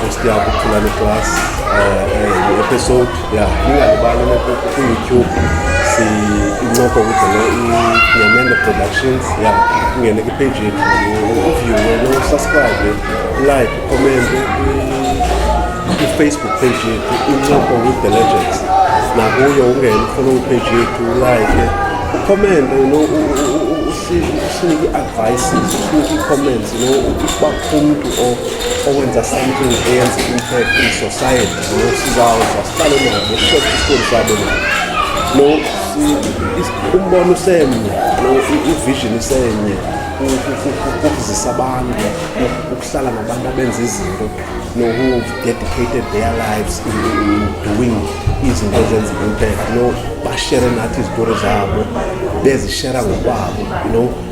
Sesiya kuphula le class um episode ya ningalibali kwiyoutube incoko kudlele inyamende productions ya ungene kwipage yethu uviewe nosubscribe like ukomente ifacebook page yethu incoko with the legends nakuyo ungene ufollow page yethu ulike ukomente usinike i-advices usinike ii-comments you know umntu owenza something eyenza impact in society lo sizawuza sihlale nabo sishoke isitori sabo lo umbono usemnye lo ivision isenye ukuzisa abantu ukuhlala nabantu abenza izinto no who dedicated their lives in, in doing izinto ezenza impact no bashere nathi izitori zabo bezishera ngokwabo you know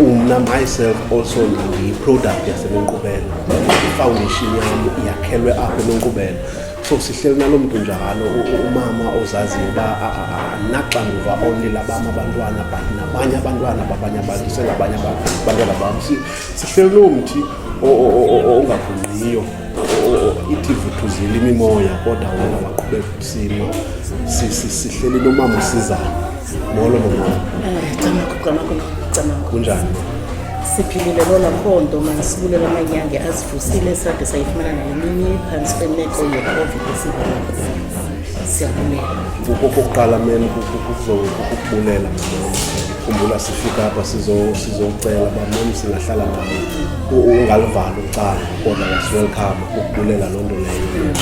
umna myself also ndiyiproduct yasenenkqubela ifoundation yam yakhelwe apho enenkqubela so sihleli nalo mntu njalo umama ozaziyo uba naxanduva only labam abantwana but nabanye abantwana babanye abantu sengabanye abantwana bam sihleli loo mthi ongagungqiyo ithi vuthuzile imimoya kodwa wena waqhubeka ukusima sihleli nomama usizana molo nomama kunjani siphilile lona mpondo manisibulela amanyange azivusile sade sayifumana naleminye phantsi kwemeko yecovid esivayo siyabulela kokokuqala meni kukubulela khumbula sifika apha sizocela uba mem singahlala nayo ungalivali ucala kodwa yasiwelkhama ukubulela loo nto leyo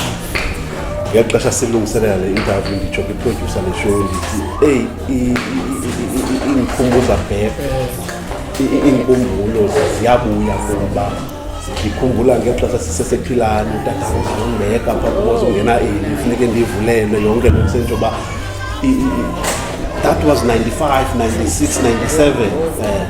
ngeli xesha silungiselela le interview nditsho kwiprodyusa le show ndithi eyi iindikhumbuza bhek iinkumbulo ziyabuya kuba ndikhumbula ngeli xesha sisesephilani utata uzawungeka pha kuboza ungena eli funeke ndivulelwe yonke loo nto uba that was 95 96 97 um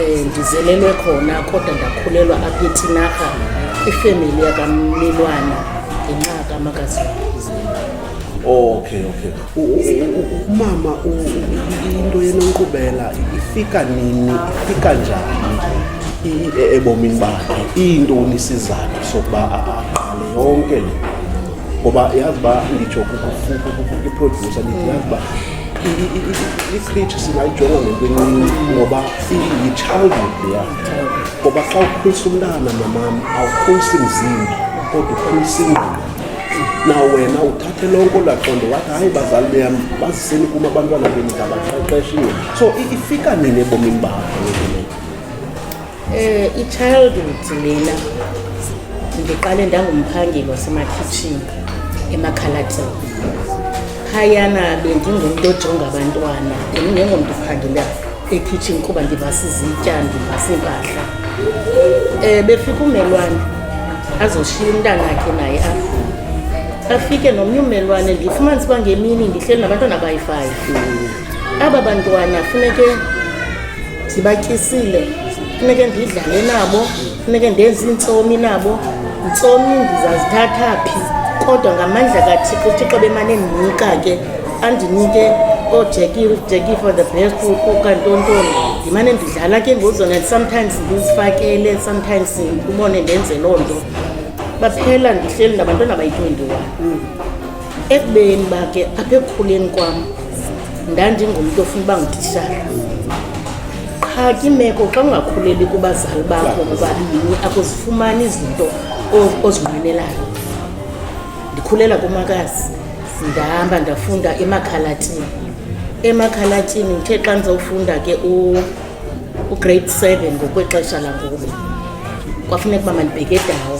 Eh, ndizelelwe khona kodwa ndakhulelwa apha ethinarha ifemeli yakammelwana ngenxa kamakazi okay okay umama into yenonkqubela ifika nini ifika njani e-, ebomini bakhe iintoni isizathu sokuba aqale yonke le ngoba yazi uba nditsho kuprodyusa ndithi yazi uba i-status singayijonga ngentwenini ngoba yi-childhood leya ngoba xa ukhulisa umntana mamam awukhulisi mzimba kodwa ukhulisa ingqondo na wena uthathe lonke olaqondo wathi hayi bazali beyam baziseni kum abantwana bendidabaqeqeshiwe so ifika nini ebomini bakho Eh i-childhood lena ndiqale ndangumphangeli wasemakhitshini emakhalatini phayana bendingumntu ojonga abantwana ndingengomntu uphangela ekhitshini kuba ndibasizitya ndibasimpahla um eh, befika umelwane azoshiya umntana akhe naye apho afike nomnye umelwane ndifumanisa uba ngemini ndihleli nabantwana bayi-five aba bantwana funeke ndibatyisile funeke ndidlale nabo funeke ndenze iintsomi nabo ntsomi ndizazithatha phi kodwa ngamandla kathixo uthixo bemane ndinika ke andinike oojeki for the best ukantontoni ndimane ndidlala ke ngozona sometimes ndizifakele sometimes ubone ndenze loo nto baphela ndihleli nabantwana bayi-twenty-one ekubeni uba ke apha ekukhuleni kwam ndandingumntu ofuna uba ngutitshala qha kimeko xa ungakhuleli kubazali bakho bobabini akuzifumani izinto ozinqwenelayo ndikhulela kumakazi ndihamba ndafunda emakhalatini emakhalatini ndithe xa ndizawufunda ke ugrade seven ngokwexesha langoku kwafuneka uba mandibheke edawo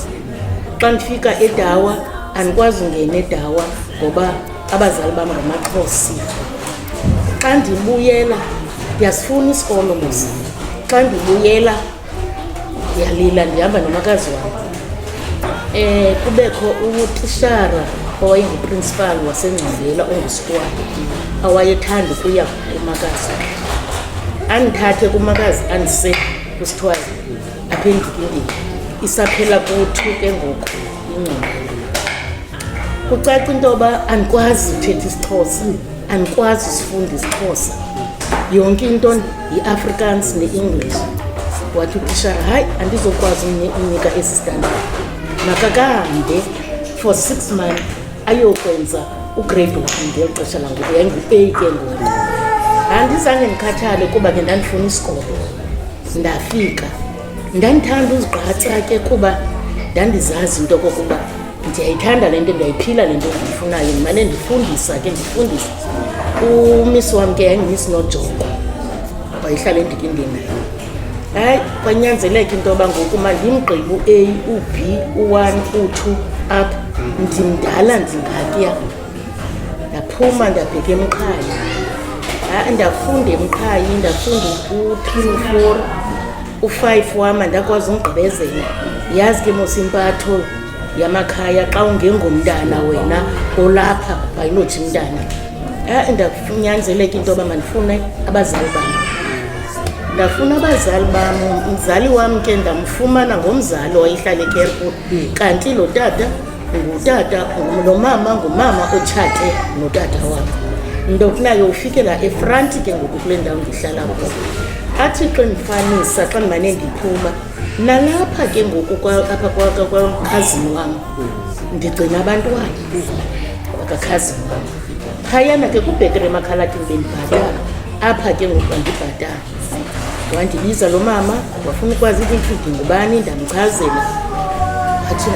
xa ndifika edawa andikwazi ungena edawa ngoba abazali bam ngamaxhosi xa ndibuyela ndiyasifuna isikolo mos xa ndibuyela ndiyalila ndihamba nomakazi wam um kubekho utishara owayenguprinsipal wasengcandela ongusitwana awayethanda ukuya kumakazi andithathe kumakazi andise kusithiwayo aphendukile isaphela kuthi ke ngoku ingqondo kucaca into yoba andikwazi uthetha isixhosa andikwazi usifunda isixhosa yonke into yi-afrikaans ne-english wathi utishara hayi andizokwazi unika esi standard makakahambe for six months ayokwenza ugrade one ngeli xesha langoku yayingu-a ke ngoku andizange ndikhathale kuba ke ndandifuna isikolo ndafika ndandithanda uzigqatsa ke kuba ndandizazi into kokuba ndiyayithanda le nto ndiyayiphila le nto ndiyifunayo ndimane ndifundisa ke ndifundisa umisi wam ke yayingumisi nojongo wayehlala endikindini hayi kwanyanzeleka into yoba ngoku mandimgqibe u-a u-b u-one u-two up ndimdala ndingakuya ndaphuma ndabheka emqhayi ha-a ndafunda emqhayi ndafunda u-three no-four u-five wam andakwazi ungigqibezela yazi ke mos impatho yamakhaya xa ungengomntana wena olapha ayinothi mntana ha-a ndakunyanzeleka into yoba mandifune abazali bam ndafuna abazali bam umzali wam ke ndamfumana ngomzali wayehlala ekerput kanti lo tata Ngutata lo mama ngumama otshate notata wakhe. Ndokuna yofikela efront ke ngoku kule ndawo ndihlala kuyo. Athi xa ndifanisa xa ndimane ndiphuma nalapha ke ngoku apha kwakhazini wam ndigcina abantwana kwakakhazini wam. Phayana ke kubhetele emakhalakini bendibhatala apha ke ngoku andibhatala. wandibiza lo mama wafuna ukwazi ukuthi ndingubani ndamchazela athi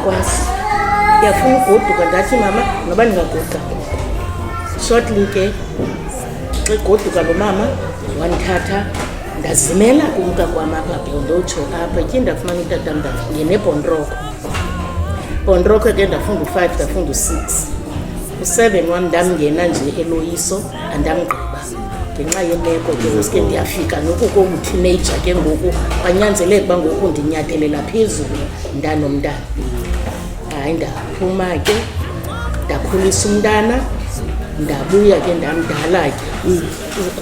ndiyakwazi ndiyafuna ugoduka ndathi mama noba ndingagoduka shortly ke xa igoduka lo mama wandithatha ndazimela kumka kwam apha bhondotsho apha tyi ndafumana utata ngenebhonroko bhonroko ke ndafunda u-five ndafunda u-six u-seven wam ndamngena nje eloyiso andamgqiba ngenxa yemeko ke uske ndiyafika noku konguteenaja ke ngoku kwanyanzeleka uba ngoku ndinyatelela phezulu mntanomntana hayi ndaphuma ke ndakhulisa umntana ndabuya ke ndamdala ke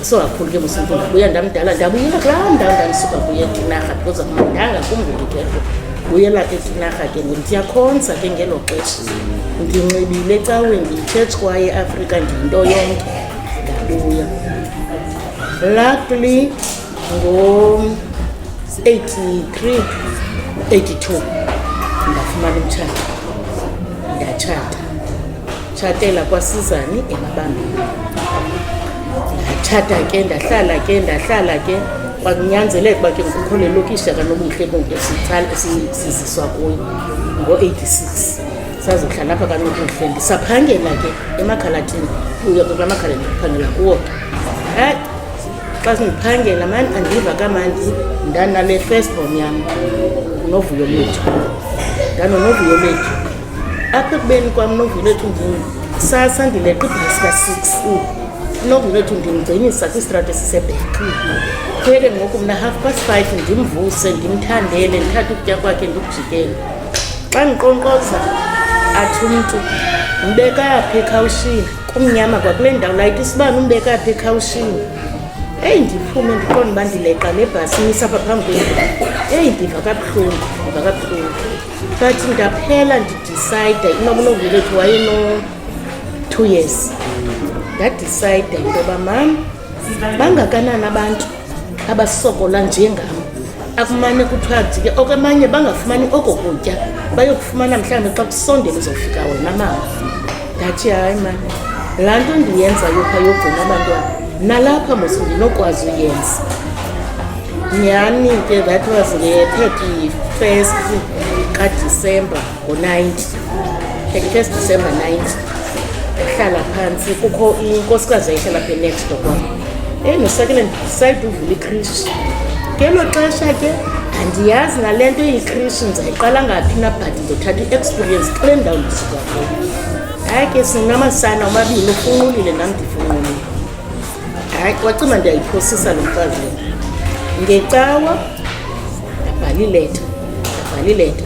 sokakhulu ke musimntu ndabuya ndamdala ndabuyela kulaa ndawo ndandisuka kuye etinarha because akumandanga kumngulukelo buyela etinarha ke ngoku ndiyakhonza ke ngelo xesha ndinxibile ecaweni ndiyitshetshi kwaye afrika ndiyinto yonke Luckily, ngo-83 82 ndafumana umtshato ndatshata tshatela kwasizani emabambini ndatshata ke ndahlala ke ndahlala ke kwakunyanzeleka uba ke ngikukho le lokishi akanobuhle bonke siziswa kuyo ngo-86 sazohlala apha kanokuhle ndisaphangela ke emakhalathini kuyo ke kula makhala ndiphangela kuwo hayi xa sindiphangela mani andiva kamandi ndanale first born yam novuyo lethu ndanonovuyo lethu apha ekubeni kwam novuyo lethu ndisasa ndileqa ibhasi ka-six novuyo lethu ndimgcinisa kwistrati esisebheka kuye ke ngoku mna half past five ndimvuse ndimthandele ndithathe ukutya kwakhe ndikujikele xa ndiqonkqoza athi umntu umbeka yaphi ekhawushini kumnyama kwakule ndawo layita isibani umbeka yaphi ekhawushini eyi ndiphume ndiqonda uba ndileqa nebhasi imisa apha phambi kwendlu eyi ndiva kabuhlungu ndiva kabuhlungu but ndaphela ndidicide inoba unovulethu wayeno-two years ndadicide into yoba mam bangakanani abantu abasokola njengam akumane kuthiwa ndike okwamanye bangafumani oko kutya bayokufumana mhlawumbi xa kusondele uzofika wena mama ndathi hayi mani laa nto ndiyenzayo pha yogcina abantwana nalapha mos ndinokwazi uyenza nyhani ke that was nge-thirty first kadisemba ngo-ninety thirty-first december ninety ehlala phantsi kukho inkosikazi ayihlala phe next door kwam endisakele ndisayide uvula ikrishi ngelo xesha ke andiyazi nale nto eyikrishi ndizayiqala ngaphi na but ndizothatha i-experience kule ndawo ndisuka kuyo hayi ke sinamasana omabini ufunqulile nam ndifunqulile hayi wacima ndiyayiphosisa lo mfazi ngecawa ndabhala ileta ndabhala ileta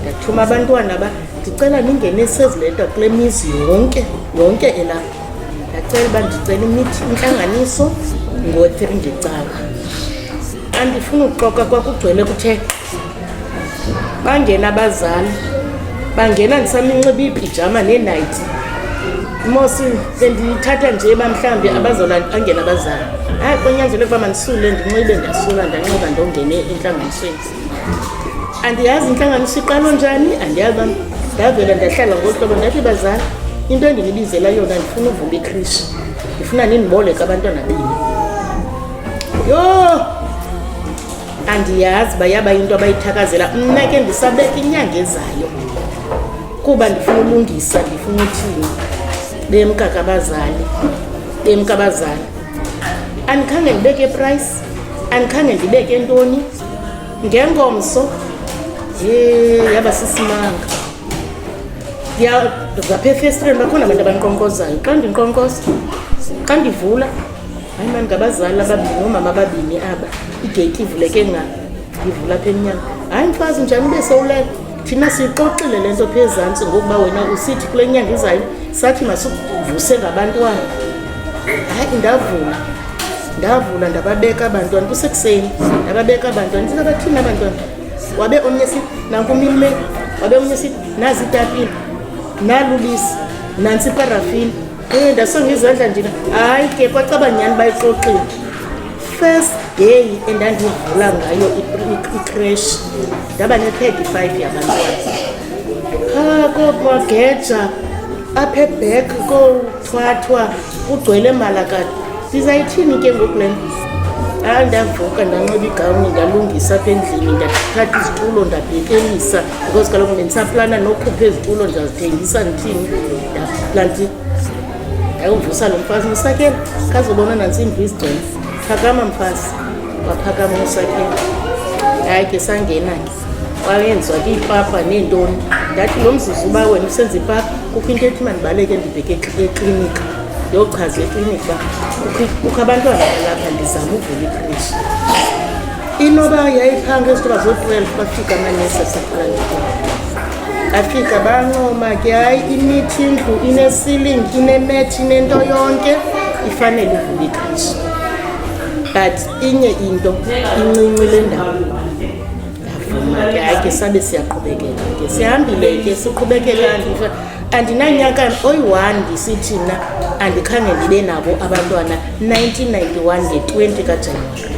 ndathuma abantwana ba ndicela ningenise ezi leta kule mizi yonke yonke elapha ndacela uba ndicela imithi intlanganiso ngo-three ngecawa andifuni ukuxoka kwakugcwele kuthe bangena abazali bangena ndisaminxiba iipijama neenayithi mosi bendiyithatha nje uba mhlawumbi abazona bangena abazali hayi konyanzele ukuba mandisule ndinxibe ndiyasula ndanxiba ndongene entlanganisweni andiyazi intlanganiso iqalo njani andiyazi uba ndavela ndahlala ngohlobo ndathi bazali into endinibizela yona ndifuna uvula ikrishi ndifuna nindiboleka abantwana bini yho andiyazi uba yaba yinto abayithakazela mna ke ndisabeka inyanga ezayo kuba ndifuna ulungisa ndifuna uthini bemka kabazali bemka abazali andikhange ndibeke price andikhange ndibeke ntoni ngengomso ye yaba sisimanga ndiyazapha efestireni bakhona abantu abandiqonkozayo xa ndinkqonkoza xa ndivula hayi mani ngabazali ababini oomama ababini aba igeyiti ivuleke nga ndivula apha emnyama hayi mfazi njani ube sowulele thina siyixoxile le nto pha ezantsi ngokuba wena usithi kule nyanga izayo sathi masivuse ngabantwana hayi ndavula ndavula ndababeka abantwana kusekuseni ndababeka abantwana ndithetha bathini abantwana wabe omnye sithi nankumilime wabe omnye sithi nazi itapile nalubisi nantsi iparafini Eh, ndasonga izandla ndina hayi ke kwacaba nyhani bayixoxile first day endandivula ngayo icrash ndaba ne-thirty five yabantwana qha komageja apha ebek kothwathwa kugcwele malakade ndizayithini ke ngoku le nto hayi ndavuka ndanxiba igawuni ndalungisa apha endlini ndathatha izitulo ndabhekelisa because kaloku bendisaplana nokhupha ezitulo ndiyazithengisa ndithini ndaplanti ndayovusa lo mfazi musakela kazobona nantsimvu izigcwele phakama mfazi waphakama umusakela hayi ke sangena ke wayenziwa ke ipapa neentoni ndathi lo mzuzu uba wena usenza ipapa kukho into ethi mandibaleke ndibheke eklinika ndiyochaza eklinika uba kukho abantwana balapha ndizama uvula ikrishi inoba yayiphanga ezithi bazo-twelve bafika amanesi asephangile afika bancoma ke hayi imithi indlu inesiling inemethi inento yonke ifanele ivule ikhashi but inye into incinci le ndawo yavuma ke hayi ke sabe siyaqhubekela ke sihambile ke siqhubekela andinanyaka oyi-one ndisithi mna andikhange ndibe nabo abantwana 1991 nge-20 kajanuwari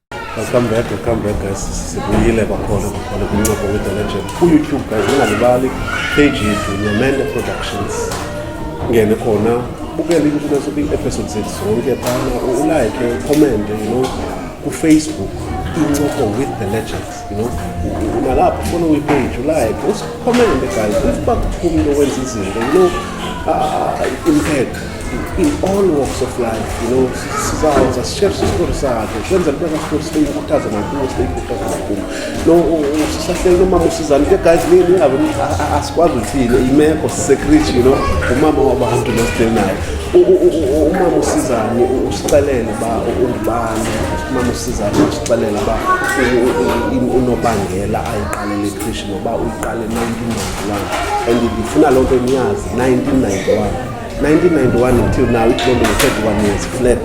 Welcome back, welcome back guys. Sibuyile kwakhona kwakhona kwincoko with the legend. Ku-YouTube guys, ningalibali page yethu Nyamende Productions. Ngene khona bukele into zobe episode zethu zonke phana ulike, ukomente, you know, kufacebook incoko with the legends. You know, nalapho funa uyipage ulike usikhomende guys usiba kuphumile okwenza izinto you know uh, impact in all walks of life you know sizawuza sishere sisikori sakhe kwenzela into kasikori siyikhuthaza nakuwo siyikhuthaza nakuwo no sisahleli nomama usizani ke guys ningabe asikwazi uthini imeko secret you know umama wabantu nosideli naye umama usizani usicelele uba ungubani umama usizani Xelela uba unobangela ayiqalele ikrishi noba uyiqale 1991 and ndifuna loo nto niyazi 1991 1991 until now itlonto nge-31 years flat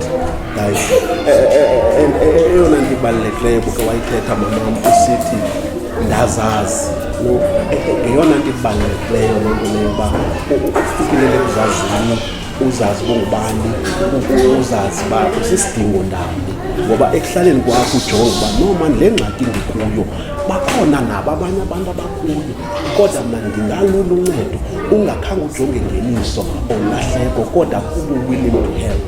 guys eh, eh, eh, and eyona nto ibalulekileyo buke wayithetha mamam usithi ndazazi ngeyona nto ibalulekileyo loo nto leyo uba ufikelele kuzazini uzazi bongubani uzazi uba usisidingo ndawoni ngoba ekuhlaleni kwakho ujonga uba noma le ngxaki ndikuyo bakhona nabo abanye abantu abakuyo kodwa mna ndingalula uncedo ungakhange ujonge ngeniso olahleko kodwa kubo willing to help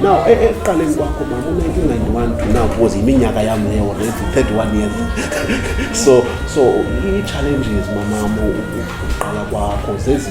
now e, e, ekuqaleni kwakho mama u-1991 to now was yiminyaka yam leyo already 31 years so so ii-challenges mamam uqala kwakho zezi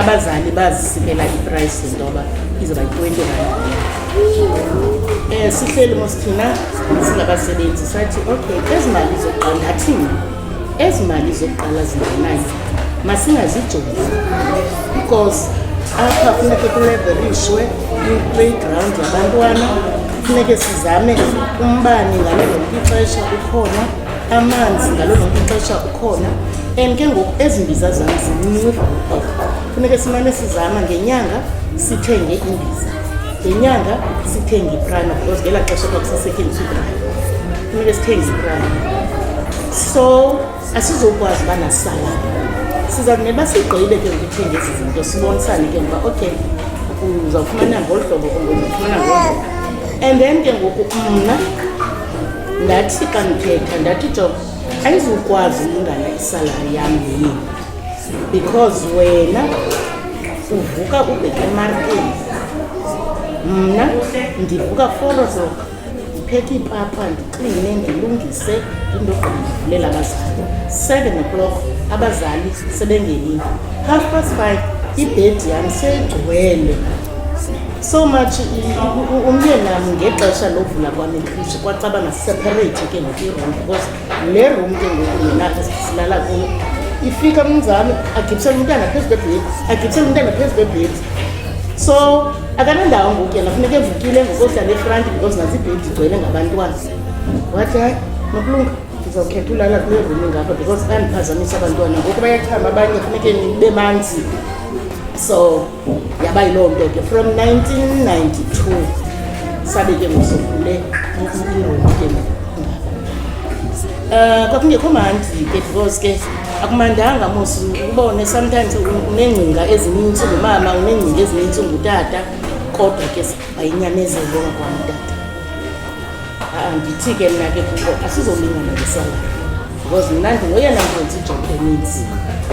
abazali bazisikela iprice ntoba izoba yi-twenty rand um sihleli mos thina singabasebenzi sathi okay ezi mali zokuqala ndathini ezi mali zokuqala zingenayo masingazijongi because apha funeke kuleverishwe i-playground yabantwana funeke sizame umbane ngale lonke ixesha ukhona amanzi ngalo lonke ixesha ukhona and ke ngoku ezi mbiza zona zincinci funeke simane sizama ngenyanga sithenge imbiza ngenyanga sithenge iprime because ngela xesha kwakusasetyenziswa iprime funeke sithenge iprime so asizokwazi uba nasalana siza kuneba sigqibe ke ngokuthenge ezi zinto sibonisane ke ngoba okay uzawufumana ngolu hlobo ungozufumana ngolu and then ke ngoku mna ndathi xa ndithetha ndathi jo ayizukwazi ulingana isalari yam yini because wena uvuka ubheke emarkeni mna ndivuka forosok ndiphethe iipapa ndikline ndilungise into qandivulela abazali seven o'clock abazali sebengenile half past five ibhedi yam seyigcwele so much umyenam ngexesha lovula kwam ikrishi kwacaba naseparate ke ngoku iroom because le room ke ngoku yenapha silala kuyo ifika umnzami agibisela umntana phezu kwebhedi agibisela umntana phezu kwebhedi so akanandawo ngoku yena funeka evukile ngokohlala efranti because nasi ibhedi igcwele ngabantwana wathi hayi nokulunga ndizawukhetha ulala kule room ingapha because andiphazamisa abantwana ngoku bayachama abanye funeke nibe manzi so yaba yiloo nto ke from 1992 sabe ke ngosivule ingoku ke um kwakungekho mandi ke because ke akumandanga mos ubone sometimes uneengcinga ezininzi ngumama uneengcinga ezininzi ngutata kodwa ke wayinyamezelo ngakwamntata Andithi ke mna ke kuko asizolingana ngesanga because mna ndingoyena mfundisi ijob eninzi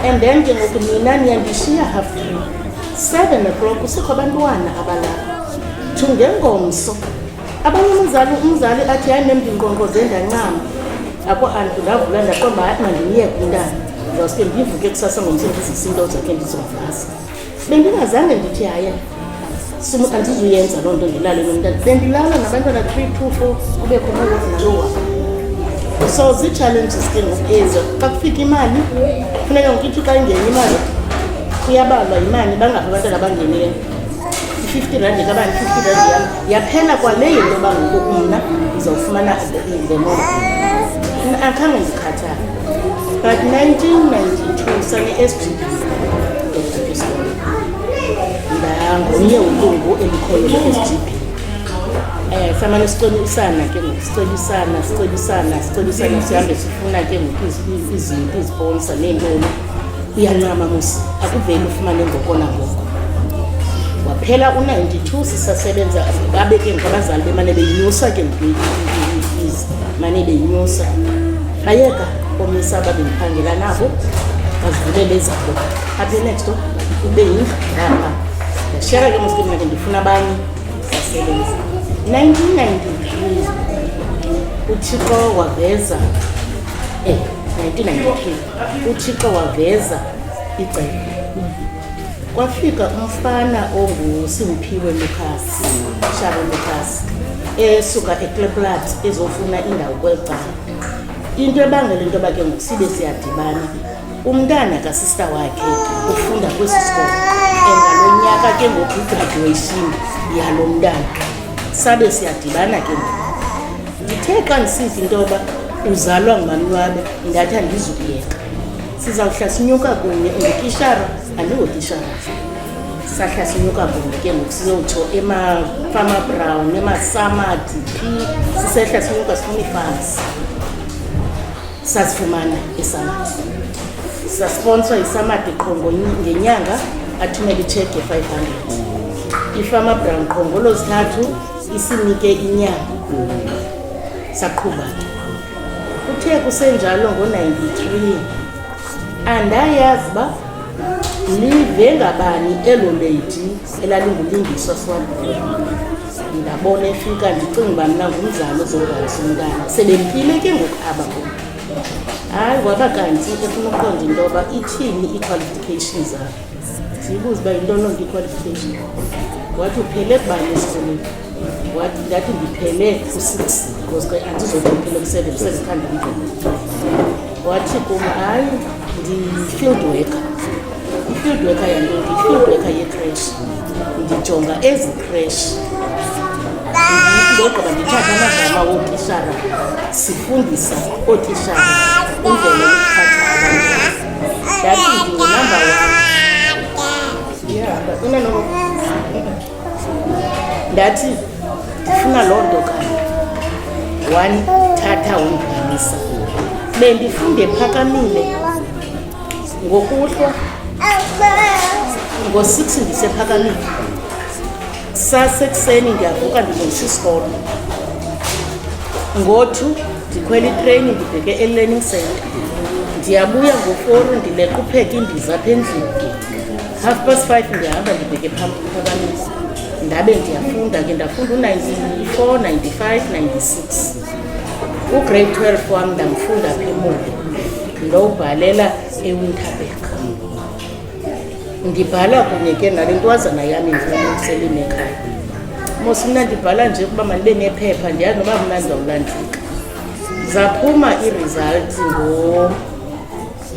and then ke ngoku nina niyandishiya half three seven o'clock kusekho abantwana abalapha to ngengomso abanye umzali umzali athi hayi nemndinqonqoze ndancama akho antu ndavula ndaqomba hayi mandimyeke umntana ndizawuske ndivuke kusasa ngomso ndizise into zakhe ndizovasa bendingazange ndithi hayi simuka ndizuyenza loo nto ndilale nomntana bendilala nabantwana three two four kubekho nalozi nalowa so zii-challenges ke ngoku ezo xa kufika imali funeka ngokuithi xa ingena imali kuyabalwa yimali bangaphi abantwana abangenileyo i-fifty rand kabani i-fifty rand yam yaphela kwaleyo into yoba ngoku mna ndizawufumana the more akhange ndikhathi But 1992 sane esiphilisa ngomnye ulungu elikhoyo le-SGB um eh, samane sicebisana ke ngoku sicebisana sicebisana sicebisana sihambe sifuna ke ngoku izinto iziponsa neentoni uyancama musi akuveli ufumane ngoko nangoko waphela u-92 sisasebenza babe ke ngabazali bemane beyinyusa ke mntwiizi mane beyinyusa bayeka omisa babendiphangela nabo bazivulele ezabo aphe next ube yindlu ngapha ndashiyaka ke muske mna ke ndifuna abanye sasebenza 1993 uthixo waveza um eh, 1993 uthixo waveza icebo kwafika umfana ongusimphiwe lucas shabo lucas esuka ekleplat ezofuna indawo kweli cala into ebangela into yoba ke ngoku sibe siyadibana umntana kasista wakhe ufunda kwesi sikolo and ngalo nyaka ke ngoku igraduation yalo mntana sabe siyadibana ke ngoku ndithe xa ndisiva into yoba uzalwa ngumanwabe ndathi andizukuyeka sizawuhla sinyuka kunye ungutishara andingotishara sahla sinyuka kunye ke ngoku sizotsho emafama brown emasamadi phi sisehla sinyuka sifuna iifans sazifumana isamadi sasponswa isamadi qho ngenyanga athumele itshege 500 ifama brown qho ngolozithathu Isinike inyanga saqhuba. Kuthe kusenjalo ngo-93 andayazi uba live ngabani elo leydi elalingulingiswa swabile ndabona efika ndicinga uba mna ngumzali ozogayisa umntana sebempile ke ngoku aba kum hayi waba kanti efuna uqonda into yoba ithini ii-qualification zakhe Zibuze uba yinto loo nto iqualification. Wathi uphele kubani esikolweni? Wathi ndathi ndiphele ku-six because ke andizothi ndiphele ku-seven sezithanda umdlalo. Wathi kum hayi ndi-field worker. I-field worker yanto ndi-field worker ye-crash. Ndijonga ezi crash ndogqiba ndithathe amagama wootishara sifundisa ootishara indlela yokuphatha abantu ndathi ndifuna loo nto kani wandithatha wondiganisa bendifunde phakamile ngokuhlwa ngo-six ndisephakamile sasekuseni ndiyavuka ndilungisa isikolo ngothu ndikhwela itreyini ndibheke elearning center ndiyabuya ngoforu ndileqa upheka indiza apha endlini half past five ndiyahamba ndibheke phambi kwabanisi ndabe ndiyafunda ke ndafunda u-94 95 96 ugrade 12 wam ndamfunda pha emoli ndowubhalela ewinterberg ndibhala kunye ke nale ntwazana yam injisele inekhaya mos mna ndibhala nje ukuba mandibe nephepha ndiyazi noba mna ndizawulandika zaphuma iresults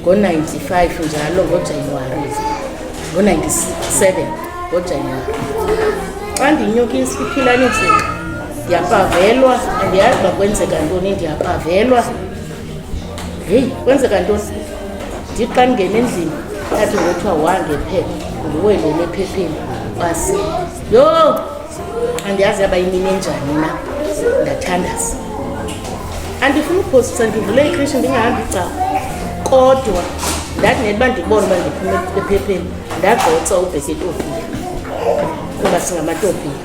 ngo-95 njalo ngojanuwari ngo-97 ngojanuwari xa ndinyuka isiphilanisinga ndiyapavelwa andiyazi uba kwenzeka ntoni ndiyapavelwa heyi kwenzeka ntoni ndithi xa ndingena endlini athi ngothiwa wangephepha nguwe lo nephepheni basi yho andiyazi yaba yimini enjani na ndathandaza andifuni uphosisa ndivule ikrishi ndingahambi cawo kodwa ndathi neliba ndibona uba ndiphume ephepheni ndagqotsa ubheketofiya kuba singamatofiya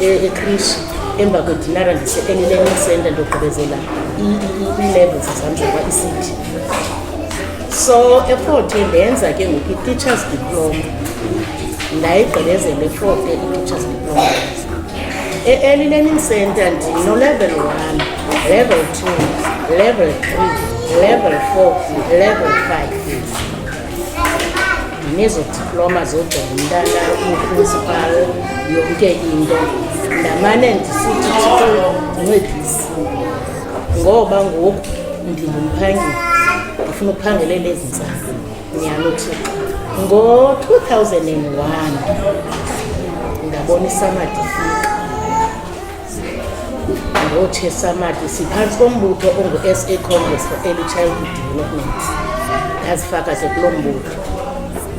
e-, ekrishi emva kwedinara ndise-elearning center ndogqibezela ii-levels zam zokwa-ecity so eforte ndenza ke ngoku i-teachers diploma ndayigqibezela eforte i-teachers diploma e-early learning center ndinolevel one level two level three level four level five nezo diploma zodwa ngumntana uprincipal yonke into ndamane ndisithi ndincedisi ngoba ngoku ndingumphangeli ndifuna ukuphangelela ezi ntsapho nyhalo thixo ngo-2001 ndabona isamadifika ngochesamati siphantsi kombutho ongu-sa congress for early childhood development ndazifaka ke kuloo mbutho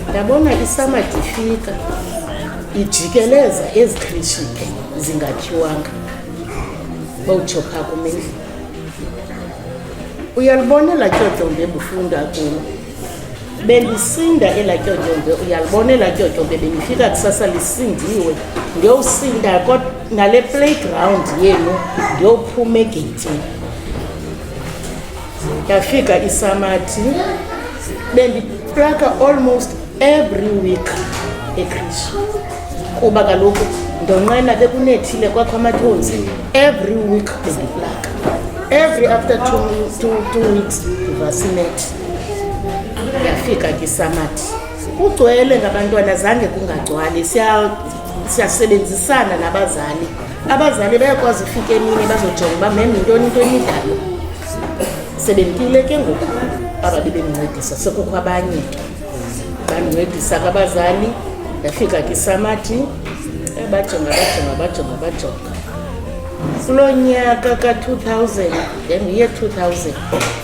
ndabona isamati ifika ijikeleza ezikhishike zingakhiwanga bowutsho phaa kumendlini uyalibonela tyotyombe bufunda kulo belisinda ela tyotyombe uyalibona ela tyotyombe belifika kusasa lisindiwe ndiyowusinda nale playground yenu ndiyophuma egeyitini ndafika isamathi bendiplaka almost every week ekrishi kuba kaloku ndonqena bekunethile kwakho amathonzi every week bendiplaka every after two, two, two weeks ndivasinethe Yafika ke isamathi kugcwele ngabantwana zange kungagcwali siyasebenzisana nabazali abazali bayakwazi ufika emini bazojonga uba mem yintoni into emidlalo sebemkile ke ngoku aba bebemncedisa sekukho abanye ke bancedisa kabazali yafika ke isamathi bajonga bajonga bajonga bajonga kulo nyaka ka-2000 then ye-2000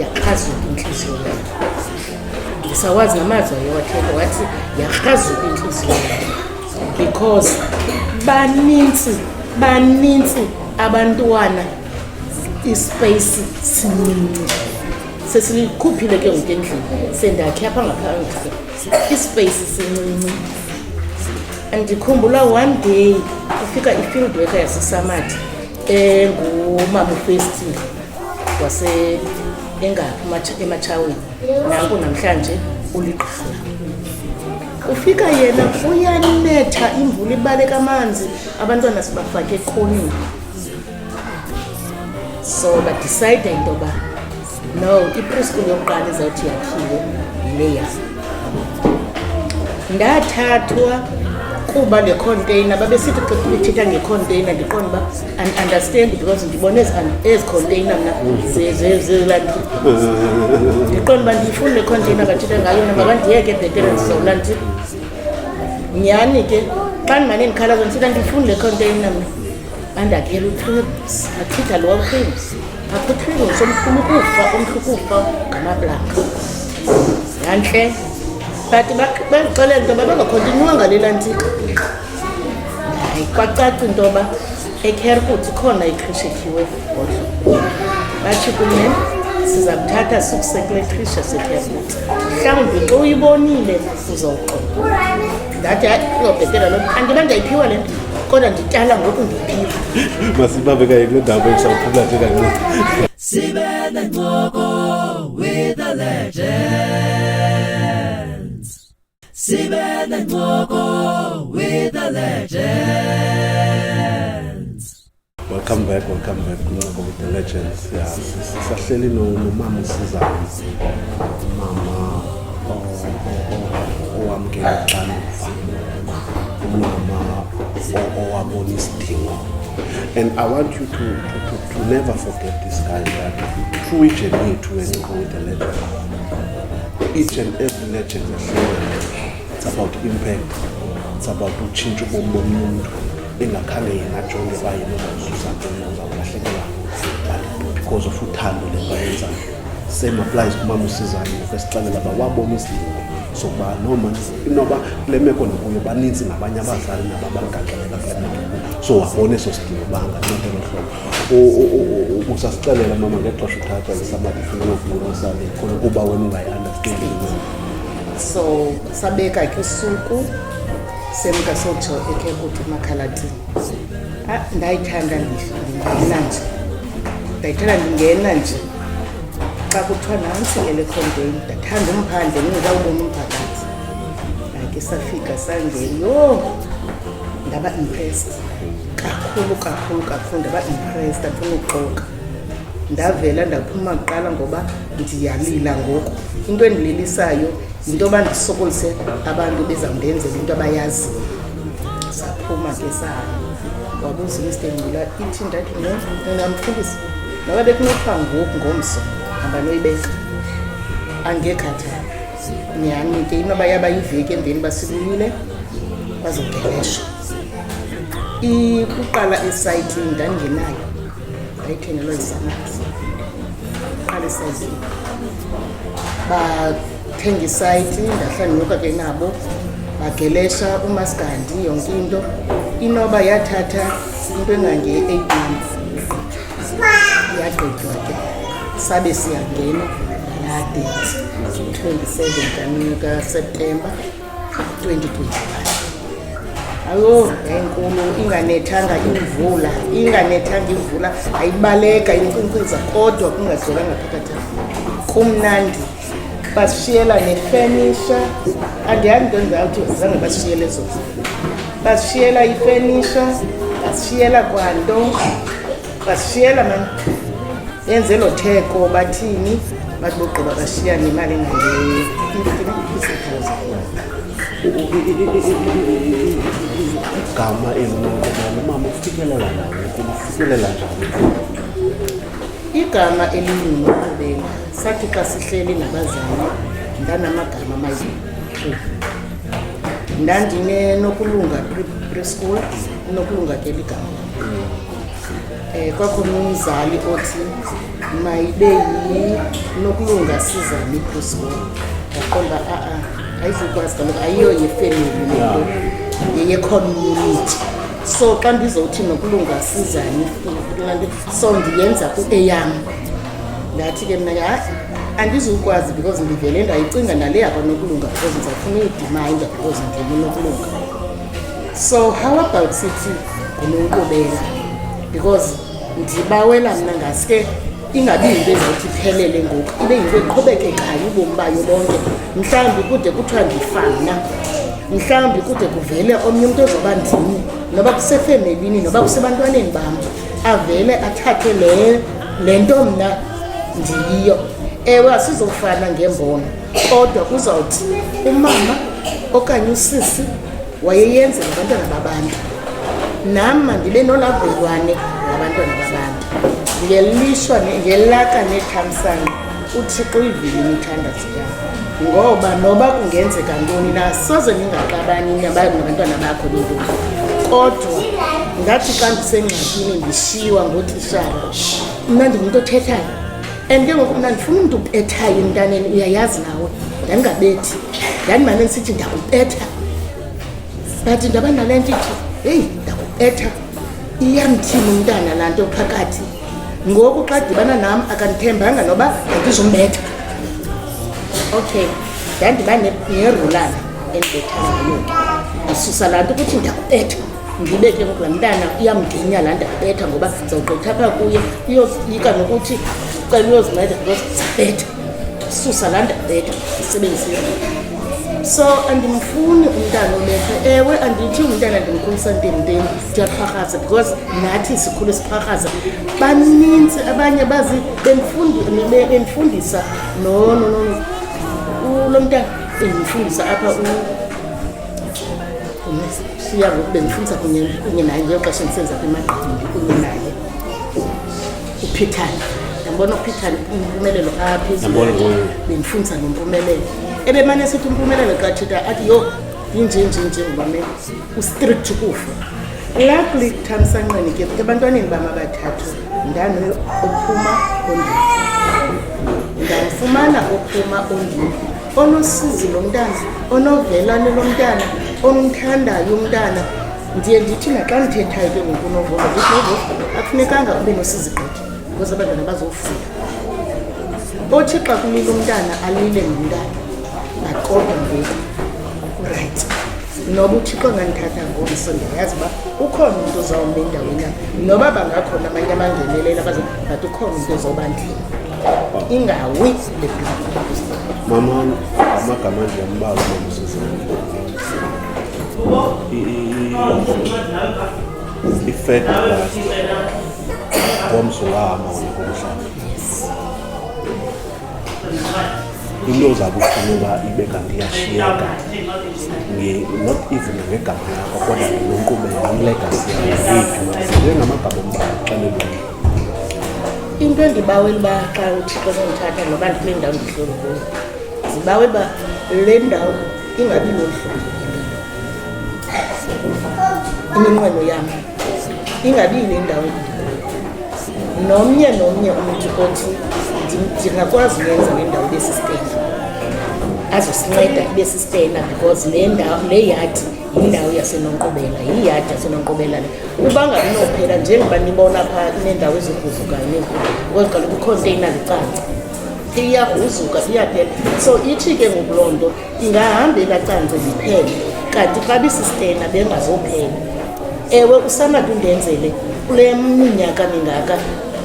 yakrazuka intliziyo ndisawazi namazwi ayewathetha wathi yakrazuka intliziyo because banintsi banintsi abantwana ispace sincinci sesilikhuphile ke ngoku endlini sendakhe apha ngaphandle ispace sincinci andikhumbula one day kufika i-field worker yasesamathi engumama ufestile waseengaphi ematshaweni nanku namhlanje uligqala ufika yena uyanetha imvula ibaleka amanzi abantwana sibafake ekhonini so badicide into yoba no ipreschool yokuqala izawuthi yakhiwe yileya ndathathwa kuba le container babesithi xa bethetha ngecontainer ndiqonda uba andiunderstand because ndibona ezi container mna zelanto ndiqonda uba ndiyifuni le container bathethe ngayo na makandiyeke bhetere ndizawula ndit nyhani ke xa ndimane ndikhalazo ndithetha ndiyifuni le container mna andakela utribs achitha lowa utribs apho utribs omkhulu ukufa omhlu ukufa ngamablaka yantle but bandixelela into yoba bangakhontinywanga lelantika hayi kwacaca into yoba ekherkut ikhona ikhrishekhiwe egodlo batsho kunye siza kuthatha sikusekule khisha sekherkut mhlawumbi xa uyibonile uzawuqoba ndathi hayi uzobhetela loo nto andiba ndiyayiphiwa le nto kodwa ndityala ngoku ndiphiwa masibabekaye kule ndawo besawuphumla nje kancinci sibe nencoko with the legend Sibele Ngoko with the legends. Welcome back, welcome back Ngoko with the legends. Yeah. Sisahleli nomama usizayo. Mama owamkela uxanduva. Umama owabona isidingo. And I want you to, to, to, to never forget this guy that through each and every to and go with the legend. Each and every legends ahlukene it's about impact it's about utshintsha ubomi bomntu engakhange yena ajonge uba yena uzawuzuza ntoni uzawulahlekelwa but because of uthando le nto ayenzayo same applies kumama usizane ngokwesixelela uba wabona isidingo sokuba noma inoba kule meko ndikuyo baninzi nabanye abazali nababagaxeleka kule meko so wabona eso sidingo uba anganceda elo hlobo usasixelela mama ngexesha uthathwa ngesamali funa ukuvula usale khona kuba wena ungayi-understandi so sabeka ke usuku semka sotsho ekhe kuthi emakhalatini ah, ndayithanda ndingena nje ndayithanda ndingena nje xa kuthiwa nantsi elekhonteni ndathanda umphandle ndingekawubona umphakathi ndake safika sangena yho ndaba impressed kakhulu kakhulu kakhulu ndaba impressed andifuna ukuxoka ndavela ndaphuma kuqala ngoba ndiyalila ngoku into endililisayo yinto yoba ndisokolise abantu bezawundenzela into abayaziyo saphuma ke sayo wabuza umste ngcula ithi ndathi ndingamfundisa noba bekunothiwa ngoku ngomso hamba noyibeka angekhathali nyhani ke inoba yaba yiveki emveni basibuyile bazogelesha ukuqala isayithi ndandingenayo ndayithengelwa isamaki qala isayithi bathenga isayithi ndahlala ndinyuka ke nabo bagelesha umasigandi yonke into inoba yathatha into engange-eight months yagqitywa ke sabe siyangena nalaa date 27 kanika septemba Ayo, enkulu inganethanga imvula, inganethanga imvula, ayibaleka inkcinkciza kodwa kungazolanga phakathi. Kumnandi. Basishiyela nefenisha. Andiyazi into endizawuthi zange basishiyele zona. Basishiyela ifenisha, basishiyela kwanto. basishiyela mani yenze lo theko bathini bathi bogqiba bashiya nemali engaigama elinonqobana umama ufikelela njani ufikelela njani igama elingunoqobela sathi xa sihleli nabazali ndanamagama amayi ndandinenokulunga preschool unokulunga ke ligama Eh, kwakhona umzali othi mayibe yinokulunga sizane iprosbol ndaqonda a-a ayizukwazi kaloku ayiyo yefemeli lento yeyecommunity so xa ndizowuthi nokulunga sizane so ndiyenza eyam ndathi ke mna ha andizukwazi because ndivele ndayicinga nale yakwa nokulunga because ndizawufuna uyidimanda because ndivele nokulunga so how about sithi ngunonkqubela because ndibawela mna ngaske ingabi yinto ezothi iphelele ngoku ibe yinto eqhubekekayo ubomi bayo bonke mhlawumbi kude kuthiwa ndifana mhlawumbi kude kuvele omnye umntu ozoba ndini noba kusefemelini noba kusebantwaneni bam avele athathe le nto mna ndiyiyo ewe asizofana ngembono kodwa kuzawuthi umama okanye usisi wayeyenza ngabantwana babantu nam mandibe nolavelwane ngabantwana babantu ngelishwa ngelaka nethamsanqa uthixo uyivile imithandazo yam ngoba noba kungenzeka ntoni na soze ndingaxabani nabantwana bakho bentoni kodwa ngathi xa ndisengxakini ndishiywa ngootishara mna ndingumntu othethayo and ke ngoku mna ndifuna umntu ubethayo emntaneni uyayazi nawe ndandingabethi ndandimane ndisithi ndakubetha but ndaba nale nto ithi heyi ndakubetha iyamthini umntana laa nto phakathi ngoku xa dibana nam akandithembanga noba andizombetha okay ndandiba nerulana endibetha ngayo ndisusa laa nto ukuthi ndakubetha ndibe ke ngoku laa mntana iyamdinya laa nto abetha ngoba ndizawugqitha phaa kuye iyosiyika nokuthi cela uyozinceda because zabetha susa laa nto abetha isebenzise so andimfuni umntana olethwe ewe andithi umntana ndimkhulisa ntenteni ndiyaxharhaza because nathi sikhule siqharhaza baninzi abanye bazi bendifundisa nononono ulo mntana bendimfundisa apha siya ngoku bendifundisa kunye kunye naye ngelo xesha ndisenza kwimagqabi ndikunye naye uphithane ndambona uphithane impumelelo aphi Ndambona ngoku. bendifundisa ngempumelelo ebemane esithi impumelelo xa tshita athi yho yinjenjenje ngubamele ustrict kufa luckily thamsanqeni ke ebantwaneni bam abathathu ndanophuma ondini ndamfumana ophuma ondini onosizi lo mntana onovelane lo mntana omthandayo umntana ndiye ndithi naxa ndithethayo ke ngoku unovova ndithi novova akufunekanga ube nosizi gqithi because abantwana bazofunda othi xa kulile umntana alile ngumntana baqoda ngoku rayithi noba uthixo angandithatha ngomso ndiyayazi uba ukhona umntu ozawume endaweni yam noba bangakhona amanye amangenelela baze but ukhona umntu ozawubandlela ingawi mama amagama nje ambalwa mamsizana i-fed plus ngomso wama ngokomhlaba into ozawube ufuna uba ibe kanti iyashiyeka not even ngegama lakho kodwa ngenkqubela ilegasi yayo yethu njengamagama omba xelelweni into endibawela uba xa uthixo sendithatha noba ndikule ndawo ndihleli kuyo ndibawela uba le ndawo ingabi loluhlobo iminqweno yam ingabi yile ndawo nomnye nomnye umntu othi ndingakwazi uyenza le ndawo ibe sistena azosinceda ibe sistena because le ndawo le yadi yindawo yasenonkqubela yiyadi yasenonkqubela le uba ngabinophela njengoba nibona phaa ineendawo eziguzukayo nenkulu kweziqala kwikhonteyina licanca iyagruzuka iyaphela so ithi ke ngoku loo nto ingahamba elacance liphele kanti xa bisistena bengazophela ewe usanati undenzele kule minyaka mingaka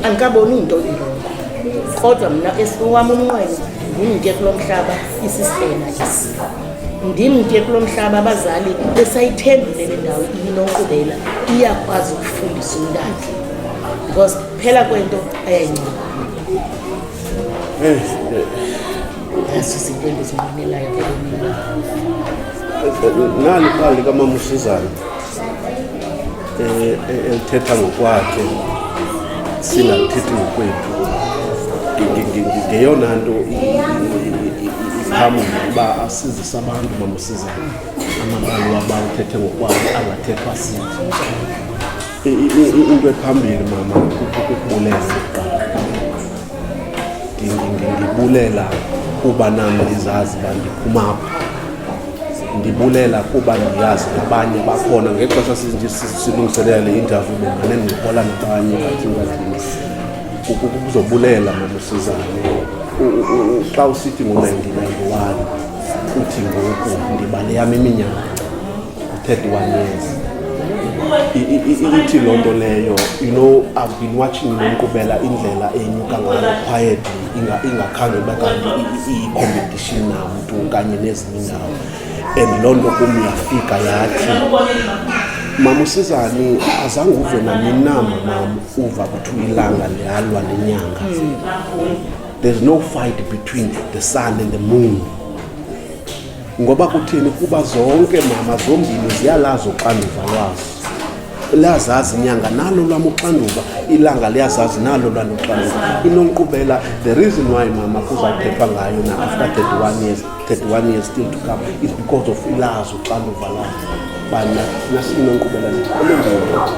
andikaboni into irongo kodwa mna esiwam umnqweno ngumnike kulo mhlaba isistena esi ndimke kulo mhlaba abazali besayithembile le ndawo iyinonkqubela iyakwazi ukufundisa umntana because phela kwento ayayincoma naso zinto endizinqwenelayo ebomini nani xa likamama usizana eh, eh, elithetha ngokwakhe singathethi ngokwethu ngeyona nto ihamule uba asizise abantu bamusizane amabali waba uthethe ngokwabo angathethwa sithi into ephambili mama kukubulela ndibulela kuba nam ndizazi uba ndiphumapha ndibulela kuba ndiyazi abanye bakhona ngexesha silungiselela le interview bengane ndincokola nabanye bathingathini kuzobulela mamusizane xa usithi ngo-1991 uthi ngoku ndibale yam iminyaka 31 years ithi loo nto leyo you know i've been watching nonkqubela indlela enyuka ngayo quietly ingakhange uba kanti iyi-competition namntu kanye nezinye indawo and loo nto kum yafika yathi mama usizani azange uve nanini na mamam uva kuthiwa ilanga liyalwa nenyanga there's no fight between the sun and the moon Ngoba kuthini? Kuba zonke mama zombini ziyalazi uxanduva lwazo, liyazazi inyanga nalo lwam uxanduva, ilanga liyazazi nalo lwalo uxanduva. Inonkqubela, the reason why mama kuzawuthethwa ngayo na after 31 years, 31 years still to come is because of ilazi uxanduva layo bana nasinonkqubela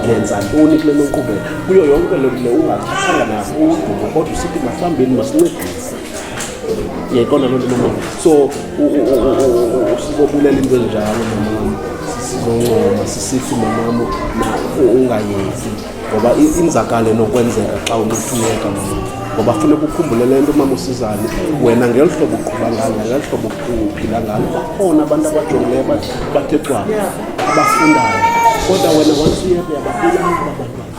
lenza ntoni kule nonkqubela kuyo yonke le ungathathanga nakudumo kodwa usithi masihambeni masincedise ndiyayiqonda loo nto mama so sibobulela into ezinjalo mamam sizoncoma sisithi mamam ungayezi ngoba inzakale nokwenzeka xa unothuleka mama ngoba funeka ukhumbule le nto mama usizane wena ngeli hlobo uqhuba ngalo ngeli hlobo uphila ngalo bakhona abantu abajongileyo bathe cwaba abafundayo kodwa wena wansuyebeyababulalabantwana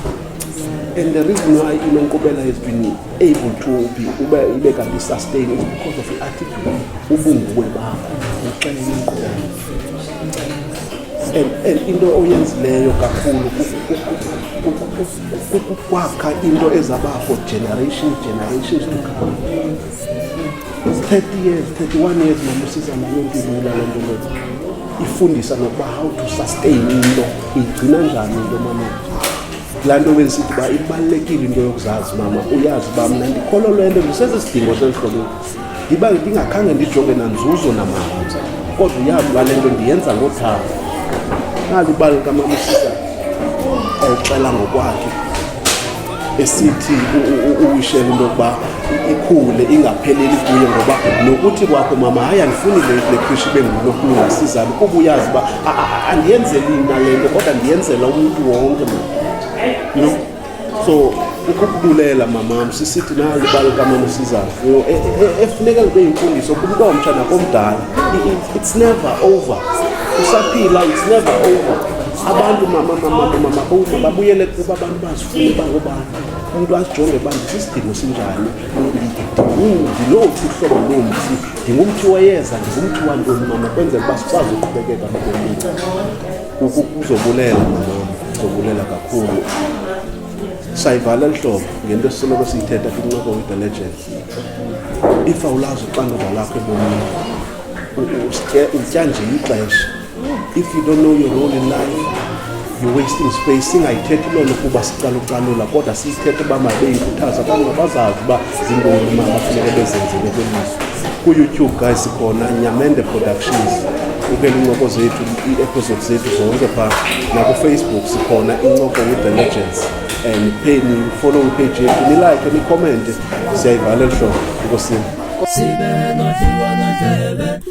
and the reason why inenkqubela ezintwini able to be ube ibe kanti sustain is because of i-attitude ubunguwe bakho uxele ingqondo and and into oyenzileyo kakhulu kukwakha into ezaba for generation generations to come 30 years 31 years mamusiza nayo mpilula le nto leto ifundisa nokuba how to sustain into igcina njani into mama laa nto bendisithi uba ibalulekile into yokuzazi mama uyazi uba mna ndikholwa loo nto ndisese sidingo sentlobeni ndiba ndingakhange ndijonge nanzuzo namama kodwa uyazi uba le nto ndiyenza ngothando nalibali kamama usisa exela ngokwakhe esithi uwishela into yokuba ikhule ingapheleli kuye ngoba nokuthi kwakho mama hayi andifuni le khrishi ibe ngulokulunga sizalo kuba uyazi uba andiyenzeli mna le nto kodwa ndiyenzela umntu wonke mna you know so ukukubulela mamam sisithi nalo ibalo kamama sizalo you know e, e, e, efuneka libe yimfundiso kumntu omtsha nakomdala it's never over usaphila it's never over abantu mama mama mama babuyele kuba abantu bazifuna uba ngobani umntu ajonge uba ndisisidingo sinjani ndilowuphi uhlobo lomthi ndingumthi wayeza ndingumthi wantoni mama kwenzela uba sikwazi uqhubekeka nobomi kuzobulela mama kuzobulela kakhulu sayivala lihlobo ngento esisoloko siyithetha kwincoko with the legend if awulazi uxanduva lakho ebomini utya nje ixesha If you don't know your role in life, you're wasting space. Singayithethi loo nto kuba sicalucalula kodwa siyithethe uba mabeyikhuthaza abantu mabazazi uba zintoni mama funeke bezenzele kwelizwe. KuYouTube guys sikhona Nyamende Productions ubukela incoko zethu ii-episode zethu zonke phaa nakufacebook sikhona incoko with the legends and pheni follow ipage yethu nilike nikhomente siyayivalela hlobo nkosini